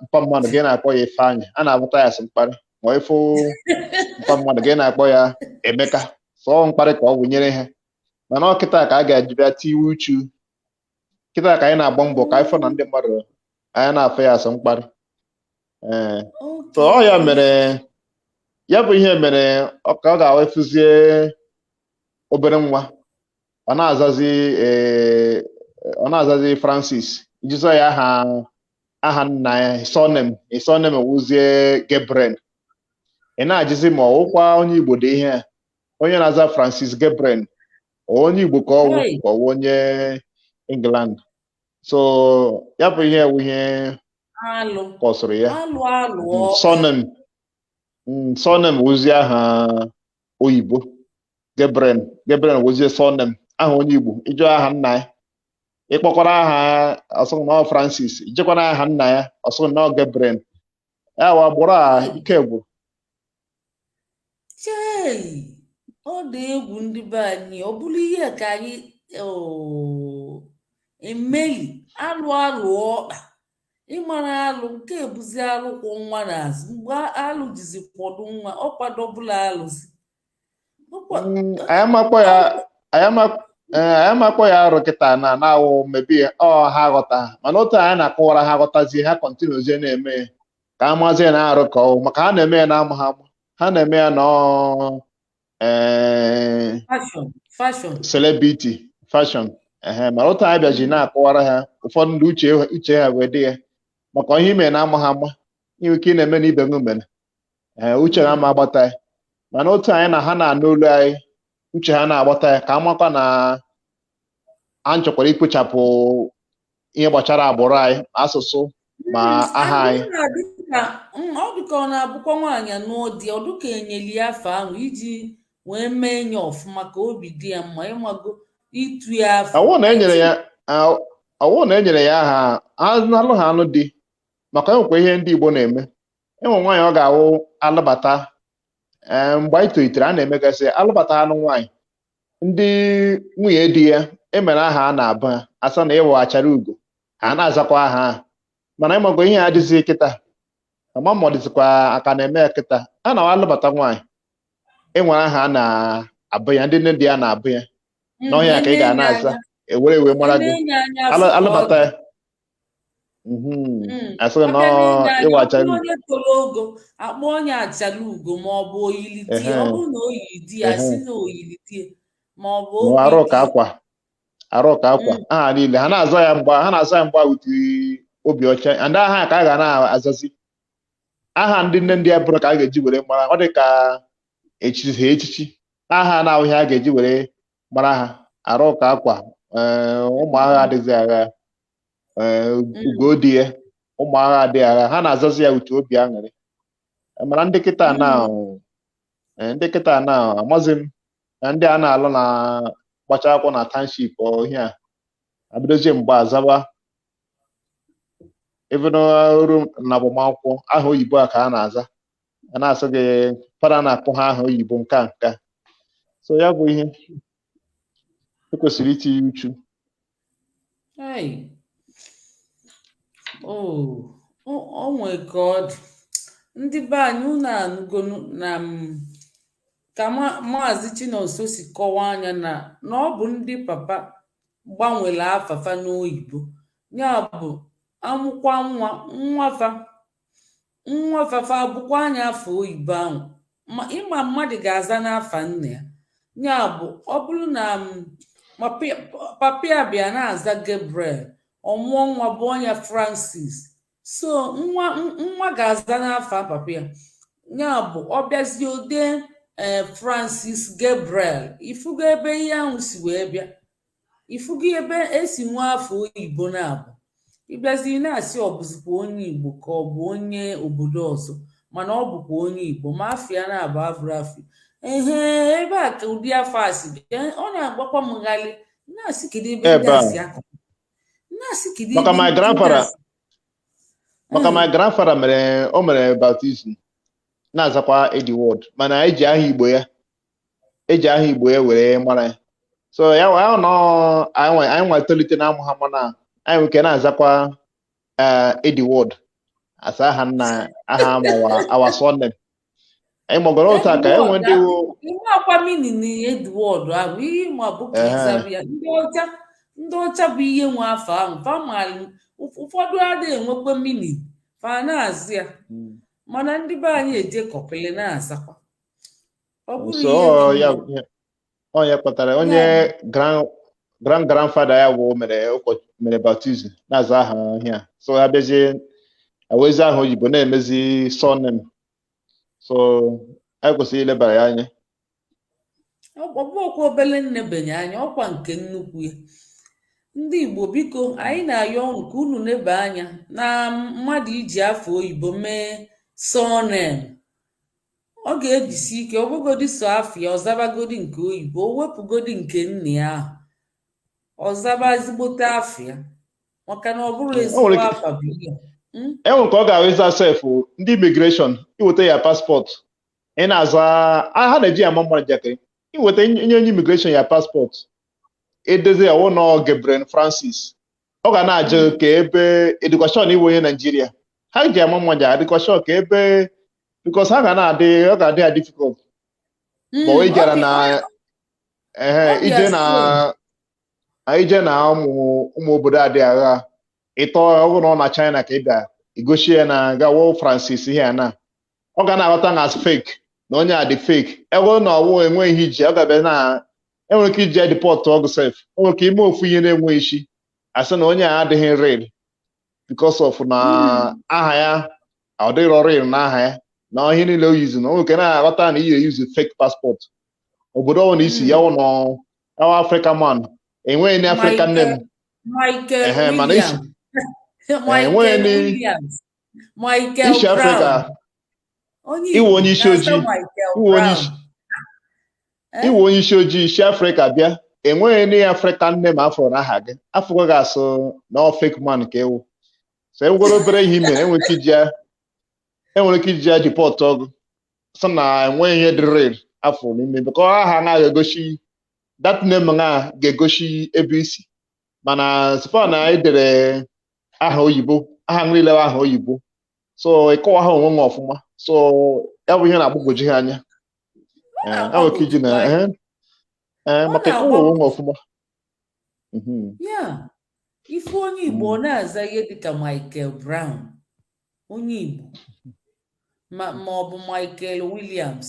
mpa mmadụ gị na-akpọ ya Ifeanyị a na-afụta ya as mkparị ma ịfụ mpa mmadụ gị na-akpọ ya Emeka so ọ mkparị ka ọ wụ nyere ha mana ọ kịta ka a ga-eji bịa tiwe uchu kịta ka anyị na-agba mbọ ka anyị fụ na ndị mmadụ anyị na-afụ ya as mkparị ee so ọ ya mere ya bụ ihe mere ọ ka ọ ga-afụzie obere nwa ọ na-azazi eh, ọ na-azazi Francis ị jụzie ya aha aha nna ya surname surname wụzie Gabriel ị na-ajụzi ma ọwụkwa onye Igbo dị ihe a onye na-aza Francis Gabriel onye Igbo ka ọwụ Hey. ka ọwụ onye England so ya bụ ihe wụ ihe alụ kọsụrụ ya alụ alụ ọ surname surname wụzie aha oyibo Gabriel Gabriel wụzie surname aha onye Igbo ịjụ aha nna ya ịkpọkwara aha ọ sị gị na Francis ijekwa n'aha nna ya ọ sị gị na Gabriel ya wa gbụrụ a ike gwụrụ chei
ọ dị egwu ndị be anyị ọ bụrụ ihe ka anyị emeli alụ alụ ọkwa ịmara alụ nke a bụzi alụ kwọ nwa n'azụ mgbe alụ jizi kwọdụ nwa ọ kwadobụla alụzi
anyị ama kpọ ya arụ kịta na na-awụ maybe ha aghọta mana otu anyị na-akọwara ha ghọtazie ha kọntinuzie na-eme ya ka a mazi ya na arụ ka ọwụ maka ha na-eme ya na amaha ha na-eme ya na celebrity fashion ehe mana otu anyị bịaji na-akọwara ha ụfọdụ ndị uche ha wee dị ya maka ihe i me na amaha ama i nwe ike ị na-eme na ibe gị mere ee uche ha ma agbata ya mana otu anyị na ha na-anụ olu anyị uche ha na-agbata ya ka a makwa na a chọkwara ikpochapụ ihe gbachara agbụrụ anyị ma asụsụ ma aha anyị
ọ dịka ọ na-abụkwa nwaanyị nụọ di ọ dịka enyeli ya afa ahụ iji wee mee nya ọfụma ka obi dị ya mma ịmago itu ya afa ọwụ na enyere ya
ọwụ na enyere ya aha alụ ha anụ di maka enwekwa ihe ndị Igbo na-eme enwe nwaanyị ọ ga-awụ alụbata ee mgbe anyị tolitere a na-emegasị alụbata anụ nwaanyị ndị nwunye di ya enwere aha a na-abụ ya asị na ị wụ achara ugo ha na-azakwa aha ahụ mana ịmago ihe adịzi kịta ama m ma ọ dịzikwa a ka na-eme ya kịta a na alụbata nwaanyị enwere aha a na-abụ ya ndị nne di ya na-abụ ya na ihe a ka ị ga na-aza ewere wee mara gị alụbata ya Mhm. Mm. asịrị na Abịa ọ n'ịga ahịa, ị wụ acha ọ bụrụ onye toro
ogo akpọ nya achala ugo ma ọ bụ oyili di ya ọ Ehe. bụrụ na o yiri di ya si Ehe. na oyiri di ya ma ọ bụ ma oge arụ di ka ya akwa
arụ ka akwa Mm. aha niile ha na-aza ya mgba ha na-aza ya mgba with obi ọcha and aha ka a ga na-azazi aha ndị nne di ya bụrụ ka a ga-eji were mara ọ dị ka echizi ha echichi aha a na-awụ ihe a ga-eji were mara ha arụ ka akwa ee, ụmụ agha adịghị agha ee, ugo di ya ụmụ agha adịghị agha ha na-azazi ya with obi aṅụrị E, mana ndị kịta na ee, ndị kịta na amazi m na ndị a na-alụ na-agbacha akwụkwọ na township ọ ihe a abidozie mgbe a zaba even ruo na agbamakwụkwọ aha oyibo a ka a na-aza a na-asị gị fada na-akpọ ha aha oyibo nka nka so ya bụ ihe ekwesịrị itinye uchu Hey.
Oh, o o nwee ka ọ dị. Ndị be anyị unu anụgonu na m ka ma- Maazị Chinonso si kọwaa nya na na ọ bụ ndị papa gbanwere afa fa n'oyibo. Ya bụ amụkwa nwa nwa fa Nwa fafa bụkwa anya afa oyibo ahụ ma ịma mmadụ ga-aza n'afa nna ya ya bụ ọ bụrụ na m papa ya papa ya bịa na-aza Gabriel ọ mụọ nwa gụọ nya Francis so nwa n- nwa ga-aza n'afa papa ya ya bụ ọ bịazie o dee ee Francis Gabriel ị fụgo ebe ihe ahụ si wee bịa ị fụgo ebe e si nwee afa oyibo na-abụ ị bịazi na-asị ọ bụzikwa onye igbo ka ọ bụ onye obodo ọzọ mana ọ bụkwa onye igbo ma afa ya na-abụ abụrụ afa ehe ebe a ka ụdị afa a si bịa ọ na-agbakwa m ghalị na-asị kedu ebe ndị a si akọ na-asị kedu ebe maka
my grandfather maka my grandfather mere o mere baptism na-azakwa Edward mana eji aha igbo ya eji aha igbo ya were mara ya so ya nwa ahụ nọ anyị nwa- anyị nwa tolite na-amụ ha mana anyị nwere ike na-azakwa eh, Edward as aha nna aha mawa our surname anyị magoro otu a ka e nwee ndị wụ- Ihe akwa
meaning na Edward ahụ ihe ịma bụ ka Ehe. ịzabụ ya ndị ọcha ndị ọcha bụ ihe nwe afa ahụ fa maara ụf- ụfọdụ adịghị enwekwa meaning fa na-aza ya mana ndị be anyị eje kọpịlị na-azakwa ọ bụrụ so ihe ọ dị
ya egwu. ya- ọ ya kpatara Ya onye bụ- grand grand grandfather ya wụ mere ụkọ- mere baptism na-aza aha ihe a so ha bịazie ewezi aha oyibo na-emezi surname so anyị kwesịrị ilebara ya anya ọ ọ bụrọkwa
obele nnebanye anya ọkwa nke nnukwu ya ndị igbo biko anyị na-ayọ unu ka unu neba anya na mmadụ iji afa oyibo mee surname ọ ga-ejisi ike ọ bụgodi so afa ya ọ zabagodi nke oyibo o wepụgodi nke nne ya ahụ ọ zaba ezigbote afa ya maka na ọ bụrụ O ezigbo nwere ike- afa bụ ihe Mm? e nwere ka
ọ ga-awụ ị za sef ndị immigration i weta ya passport ị na-aza a- ha na-eji ya ama mmadụ njakịrị i weta nye onye immigration ya passport e dezi ya wụ nọ Gabriel Francis ọ ga na-ajụ ka ebe indication ị wụ onye Nigeria ha ji ama mma ji indication ka ebe because ha ga na-adị ọ ga-adị ya difficult ma o ijere na ehe ije na ije na ụmụ ụmụ obodo adị agha ịtọ ọ bụrụ na ọ na China ka ị bịa igosi ya na Gabriel Francis ihe a na ọ ga na-aghọta na as fake na onye a dị fake ego na ọ wụ enweghị ihe iji ọ ga-abịa na enwere ike iji depọtụọ gị sef enwere ike ime ofu ihe na-enweghị isi asị na onye a adịghị real because of na hmm. aha ya adịrọ real na aha ya na ihe niile o yizi na o nwere ike na-aghọta na iyi eyuzi fake passport obodo ọbụla i si ya wụ na ọ wụ African man enweghị any African name mana i si enweghị i si afrịka ị wụ onye isi ojii ị wụ onye isi Eh? ị wụ onye isi ojii i si afrịka bịa enweghị any African name afụrụ na aha gị afụgo gị asị na ọ fake man ka ị wụ so enwegoro obere ihe ime enwere ike iji ya enwere ike iji ya depọtụọ gị sị na enweghị ihe dị real afụ n'ime because aha na ga-egosi that name na ga-egosi ebe i si mana so far na anyị dere aha oyibo aha niile aha oyibo so ịkọwa ha onwe m ọfụma so ya bụ ihe na-agbagwoju ha anya Ee, enwere ike iji na otu ee, ee, Ọ maka na-agwa ịkọwa onwe m ọfụma
Mhm. ya ị fụ onye Igbo ọ Mm. na-aza ihe dịka Michael Brown onye Igbo ma ma ọ bụ Michael
Williams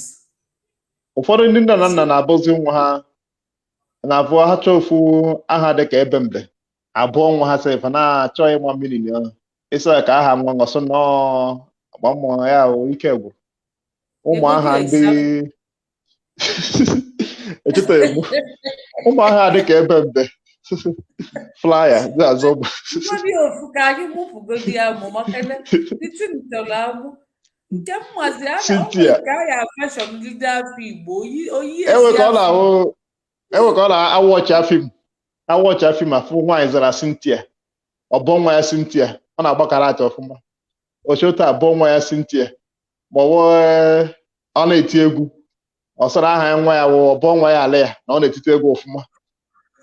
ụfọdụ ndị nne na nna isi na-abụzi nwa ha na-abụ ha chọọ ofu aha dị ka ebe mbe abụọ nwa ha sef na-achọghị ịma meaning na ịsa ka aha nwa nwa sị nọọ agba mmụọ ya o, ike gwụrụ ụmụ aha ndị echetaghị m ụmụ aha dị ka ebe mbe flyer dị azọ bụ Mmadụ ofu ka anyị mụpụgodi ya mụ maka ebe titi m chọrọ amụ
nke mmazi a na Cynthia. ka a ya fashọn ndị dị afọ Igbo oyi oyi o nwere ike ọ
na-ahụ o nwere ike ọ na-awọchị fim awọchịa fim afụ nwaanyị zara Cynthia ọ bụọ nwa ya Cynthia ọ na-agba karate ọfụma o cheta abụọ nwa ya Cynthia ma ọ wụ ọ na-eti egwu ọ sị na aha ya nwa ya wụ ọ bụọ nwa ya Aaliyah na ọ na-etite egwu ọfụma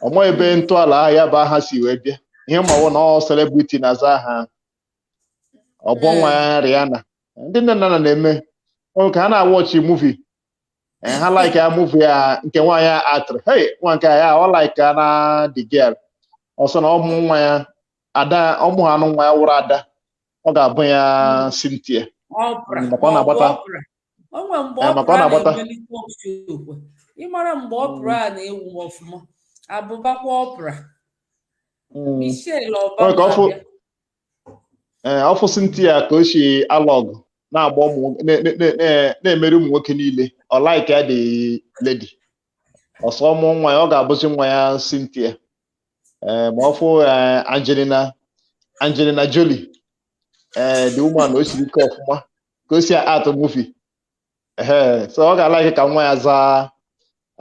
ọ maghị ebe ntọala aha ya bụ aha si wee bịa ihe ọ ma wụ na ọ celebrity na-aza aha ahụ. ọ bụọ nwa ya Rihanna ndị nne na nna na-eme ọ ka ha na-awọchi muvi Eh, ha like ya muvi ya nke nwaanyị a aktịrị hey nwa nke ya ọ like ya na the girl ọ sị na ọ mụọ nwa ya ada ọ mụọ ha anụ nwa ya wụrụ ada ọ ga-abụ ya hmm. Cynthia maka ọ na-agbata o nwe mgbe Oprah
na-agbata ị mara mgbe Oprah na-ewu ọfụma abụbakwa Oprah hmm. Michelle
Obama ee eh, ọ fụ Cynthia ka o si alụ ọgụ na-agba ụmụ na-emeri ụmụ nwoke niile ọ like ya the lady ọ sị ọ mụọ nwa ya ọ ga-abụzi nwa ya Cynthia ee ma ọ fụ ee, Angelina Angelina Jolie ee the woman o siri ike ọfụma ka o si a-act movie ehe so ọ ga-alike ka nwa ya zaa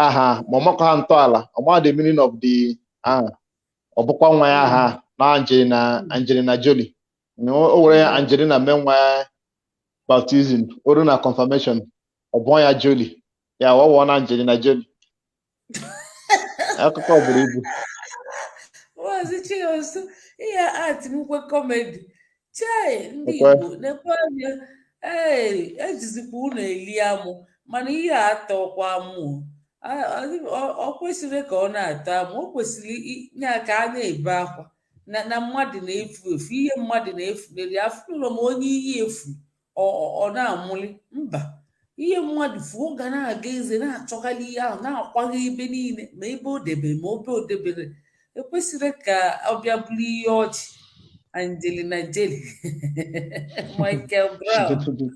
aha ma ọ makwa ha ntọala ọ ma the meaning of the aha ọ bụkwa nwa ya aha na Angelina Angelina Jolie Na o o were ya Angelina mee nwa ya baptism o ruo na confirmation ọ gụọ ya Jolie ya ọ wụọ na Angelina Jolie akụkọ buru ibu maazị
Chinonso ihe a bụkwa comedy chai ndị Ọkwa. Igbo na-ekwe anya ee ejizikwa unu eli amụ mana ihe a atọkwa amụ A- ọ- ọ- ọ kwesịrị ka ọ na-atọ amụ o kwesịrị i- ya ka a na-ebe akwa na na mmadụ na-efu efu ihe mmadụ na-efunarị afụrọ m onye ihe efu ọ na-amụli mba ihe mmadụ fuo ọ ga na-aga eze na-achọgharị ihe ahụ na-akwagharị ebe niile ma ebe o debere ma ebe o deberọ o kwesịrọ ka ọ bịa bụrụ ihe ọchị Angelina Jolie Michael Brown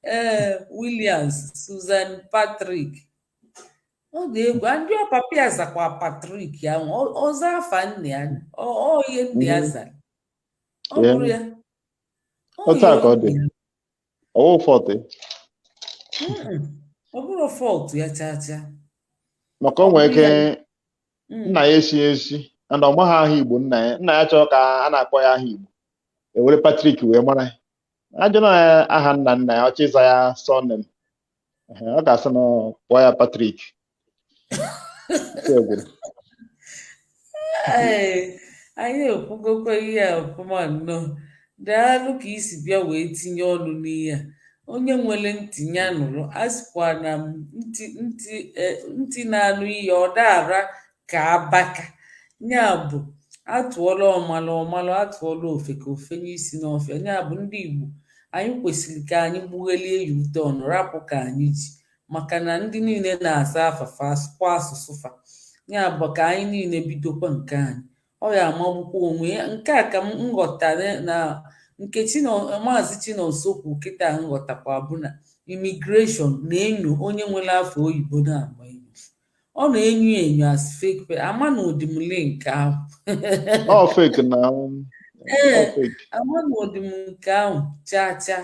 ee Williams Susan Patrick ọ dị egwu and ọ papa ya zakwa Patrick ahụ ọ za afa nna ya ọ ihe nna ya zara ọ bụrọ ya otu a ka ọ dị ọ wụ fault Mm-mm. ọ bụrọ fault ya chaa chaa
maka o nwere ike Mm. nna ya echi echi and ọ maghị aha igbo nna ya nna ya chọọ ka a na-akpọ ya aha igbo e were Patrick wee mara ya ajụ na ya aha nna nna ya ọ chọ ịza ya surname ọ ga-asị na ọ kpọọ ya Patrick
anyị ekwugokwa ihe a ọfụma nnọọ daalụ ka i si bịa wee tinye ọnụ n'ihe a onye nwere ntị ya nụrụ a sịkwa na ntị ntị e, ntị na-anụ ihe ọ daara ka abaka ya bụ atụọlụ ọmalụ ọ malụ atụọlụ ofeke o fenye isi n'ọfịa ya bụ ndị Igbo anyị kwesịrị ka anyị gbughelie ya ute ọnụ rapụ ka anyị ji maka na ndị niile na-aza afa fa asụkwa asụsụ fa ya bụ ka anyị niile bidokwa nke anyị ọ ya-amagbukwa onwe ya nke a ka m ghọta na nke maazị Chinonso kwu kịta m ghọtakwa bụ na immigration na-enyo onye nwere afa oyibo na-agba enyo ọ na-enyo enyo as fake amarọdị m nke ahụ ọ fake na um, ee amarọdị m nke ahụ chaa chaa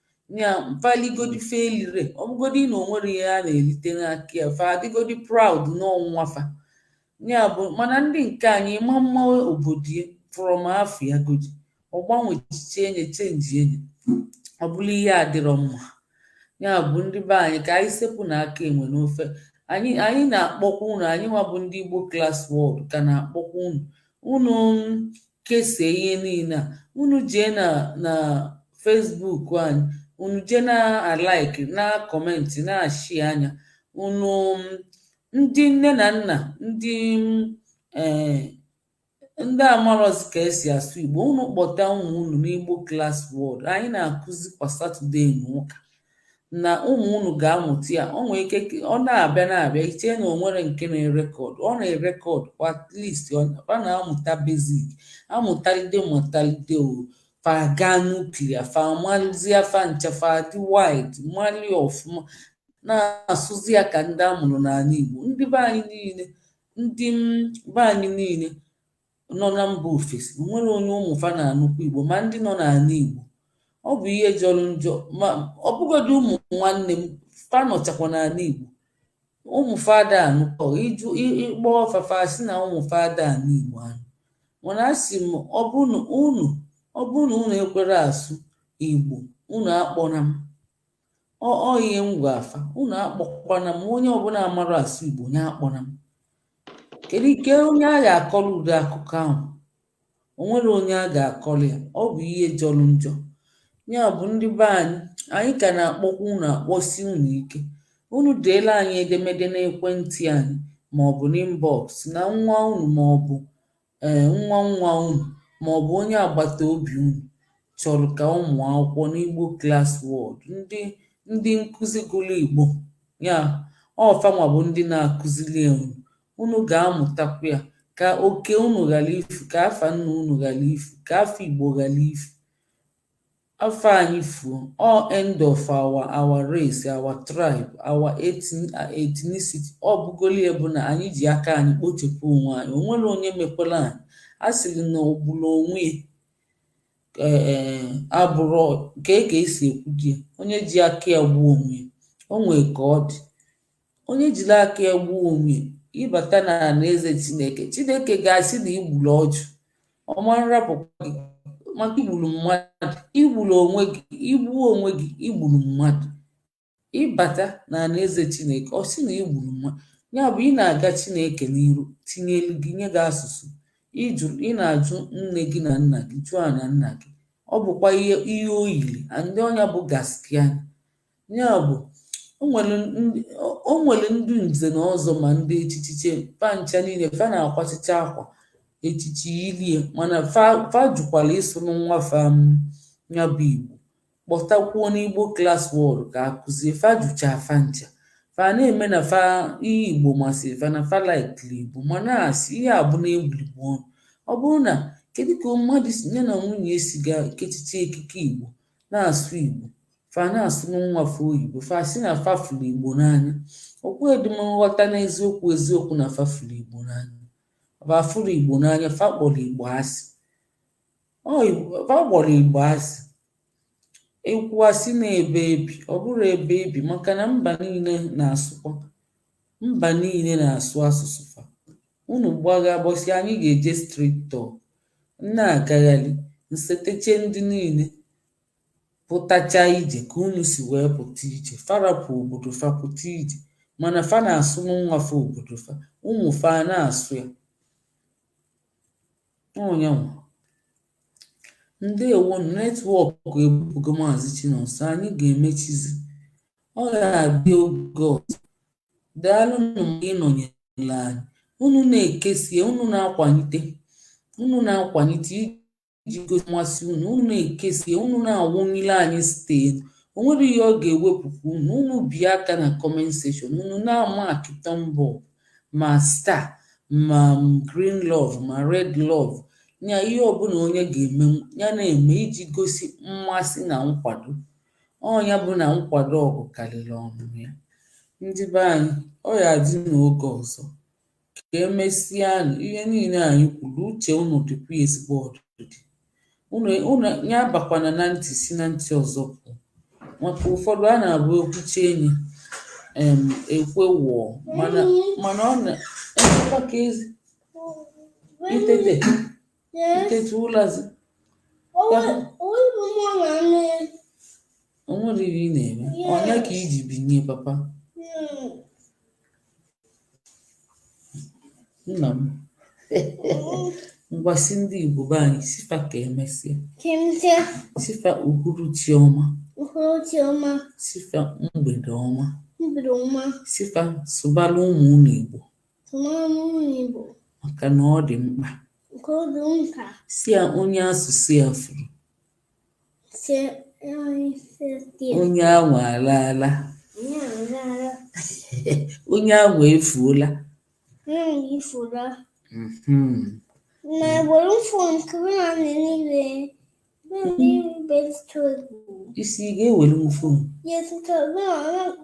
ya faligodi fa elire ọ bụgodi na o nwere ihe a na-erite n'aka ya fa adịgodi proud n'onwe fa ya bụ mana ndị nke anyị ma mma obodo ya from afa ya godi ọ gbanwe echiche enye chenji enye ọ bụrụ ihe adịrọ mma ya bụ ndị be anyị ka anyị sepụnụ aka enwe n'ofe anyị anyị na-akpọkwa unu anyị nwa bụ ndị igbo klas wọld ka na-akpọkwa unu unu kesie ihe niile a unu jee na na fesbuk anyị unu jee na-alaiki na-akọmentị na-ashea ya unu ndị nne na nna ndị ee eh, ndị amarọzi ka e si asụ igbo unu kpọta ụmụ unu n'igbo klas wọld anyị na-akụzi kwa satọdee na ụka na ụmụ unu ga-amụta ya o nwere ike ọ na-abịa na-abịa i chee na o nwere nke na-erekọd ọ na-erekọd kwa at least ọ na-amụta basic amụtalide mụtalide o fa ga na-eklia fa amalizia fa ncha fa dị wid mali ọfụma na-asụzi ya ka ndị a mụrụ n'ala Igbo ndị be anyị niile ndị be anyị niile nọ na mba ofesi nwere onye ụmụ fa na-anụkwa Igbo ma ndị nọ n'ala Igbo ọ bụ ihe jọrọ njọ ma ọ bụgodị ụmụ nwanne m fa nọchakwa n'ala Igbo ụmụ fa ada anụkwa ị jụọ ị kpọọ fa fa asị na ụmụ fa ada anụ Igbo anụ mana asị m ọ bụ na unu ọ bụ na unu ekwerọ asụ Igbo unu akpọna m ọ ọ ihe m gwaa fa unu akpọkwana m onye ọbụla amarọ asụ igbo ya akpọna m kedu ike onye a ga-akọrọ ụdị akụkọ ahụ o nwere onye a ga-akọrọ ya ọ bụ ihe jọrọ njọ ya bụ ndị be anyị anyị ka na-akpọkwa unu akpọsi unu ike unu deelu anyị edemede n'ekwentị anyị ma ọ bụ n'inbox na nwa unu ma ọ bụ um nwa nwa unu ma ọ bụ onye agbata obi unu chọrọ ka ọ mụọ akwụkwọ n'Igbo Class World, ndị ndị nkụzi gụrụ Igbo ya, ọ fa nwa bụ ndị na-akụzili ya unu, unu ga-amụtakwa ya ka oke unu ghara ifu, ka afa nna unu ghara ifu, ka afa Igbo ghara ifu. Afa anyị fuo, ọ end of our our race, our tribe, our ethnicity, ọ bụgoli ya bụ na anyị ji aka anyị kpochapụ onwe anyị o nwerọ onye mekwara anyị a sịrị na ogburu onwe e abụrụ ka e ka e si ekwudi ya onye ji aka ya gbuo onwe ya o nwee ka ọ dị onye jiri aka ya gbuo onwe ya ị bata na alaeze chineke chineke ga-asị na i gburu ọchụ ọ ma nrapụkwa gị maka i gburu mmadụ i gburu onwe gị i gbuo onwe gị i gburu mmadụ ị bata na alaeze chineke ọ sị na i gburu mmadụ ya bụ ị na-aga chineke n'iru tinye elu gị nye gị asụsụ ị jụ ị na-ajụ nne gị na nna gị jụọ na nna gị ọ bụkwa ihe ihe o yiri and ọ nya bụ gaskiya Ya bụ, o nwere ndị o nwere ndị nze na ọzọ ma ndị echichiche fa ncha niile fa na-akwachicha akwa echichi ilie mana fa fa jụkwara ịsụrụ nwa fa nya bụ Igbo kpọtakwuo n'Igbo class world ka a kụzie fa jụcha fa ncha fa na-eme na fa ihe Igbo masịrị fa na fa laikiri Igbo mana asị ihe a bụ na-egwuri Igbo ọnụ ọ bụrụ na kedu ka mmadụ ya na nwunye si ga kechiche ekike Igbo na-asụ Igbo fa na-asụ nwa fa oyibo fa sị na fa fụrụ igbo n'anya okwu edum nghọta n'eziokwu eziokwu na fa fụrụ igbo n'anya fa fụrụ igbo n'anya fa kpọrọ igbo asị fa kpọrọ igbo asị ekwu asị na ebe ebi ọ bụrụ ebe ebi maka na mba niile na-asụkwa mba niile na-asụ asụsụ fa unu gbaga bọsị anyị ga-eje street talk na-agagharị nsetecha ndị niile pụtachaa ije ka unu si wee pụta ije fa rapụ obodo fa pụta ije mana fa na-asụrụ nwa fa obodo fa ụmụ fa a na-asụ ya ọ nya nwa ndewo network ebugo maazị Chinonso anyị ga-emechizi ọ ga-adị oge ọzọ daalụ nụ maka ịnọnyere anyị unu na-ekesa ya unu na-akwalite unu na-akwalite iji gosi mmasị unu unu na-ekesa ya unu na-awụnyere anyị star o nwerọ ihe ọ ga-ewepụkwa unu unu bie aka na comment section unu na-ama aka thumb up ma star ma green love ma red love nya ihe ọbụla onye ga-eme ya na-eme iji gosi mmasị na nkwado ọ nya bụ na nkwado ọgụ karịrị ọnụnụ ya ndị be anyị ọ ya adị n'oge ọzọ ka emesịanụ ihe niile anyị kwuru uche unu dịkwa ya ezigbo ọdịdị unu unu ya bakwana na ntị si na ntị ọzọ pụọ maka ụfọdụ a na-abụ ekwucha enyi m ekwe wụọ mana mana ọ na-emekwa ka ezi itete Yes. Itetu ụlazi. Onwe onwe bụ mmụọ na nne. O nwere ihe ị na-eme. Yes. Ọ nya ka i ji binye papa. Hmm. Nna m. Ngwa sị ndị Igbo be anyị sị fa ka emesịa. Ka emesịa. Sị fa uhuruchi ọma. uhuruchi ọma Sị fa mgbede ọma. mgbede ọma. Sị fa sụbala ụmụ unu Igbo. maka na ọ dị mkpa sị ya onye asụsụ ya furu onye ahụ alaala onye ahụ efuola mhm. na egboro mfụ nke na niile ị sị ị ga-ewere m fon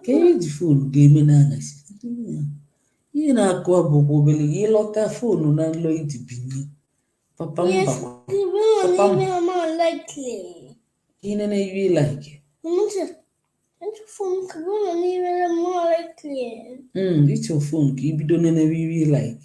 ka ihe ji fon ga-eme n'anyasị ihe na-akụ abụ kwa obere gị ị lọta fonu n'ụlọ i ji binye papa m bakwa papa m ihe na iwe like ị chọ fon ka i bido nenewe iwe like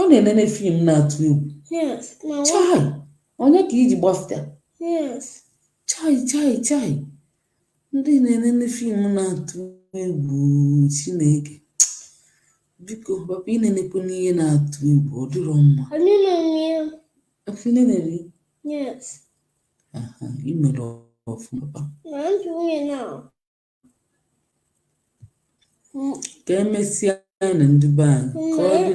Ọ na-enene fim na-atụ egwu. Yes, na nwa. Chai! Ọ nya ka i ji gbafụta? Yes. Chai chai chai! Ndị na-enene fim na-atụ egwu Chineke. Biko, papa enenekwana ihe na-atụ egwu, ọ dịrọ mma. Anyị na-enwe ya. Afọ ị na-enere Yes. aha, i mere ọfụma papa. Na ntị nwunye na. ka emesịanụ ndị be anyị ka ọ dị